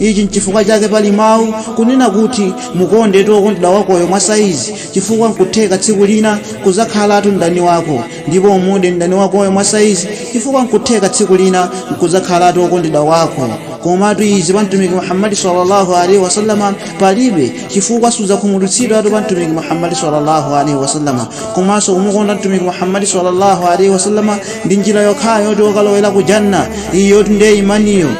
ichi nchifukwa chake pali mawu kunena kuti mukonde wokondedwa wakoyo mwa saizi chifukwa nkutheka tsiku lina kuzakhalatu mdani wako ndipo umude mdani wakoyo mwa saizi chifukwa nkutheka tsiku lina nkuzakhalatu wokondedwa wako komatu izi pa mtumiki muhammadi sallallahu alaihi wasallama palibe chifukwa sudzakhumudwitsidwatu pa mtumiki muhammadi sallallahu alaihi wasallama komanso kumukonda mtumiki muhammadi sallallahu alaihi wasallama ndi njira yokhayo yoti ukalowere ku janna iyo yoti ndiye imaniyo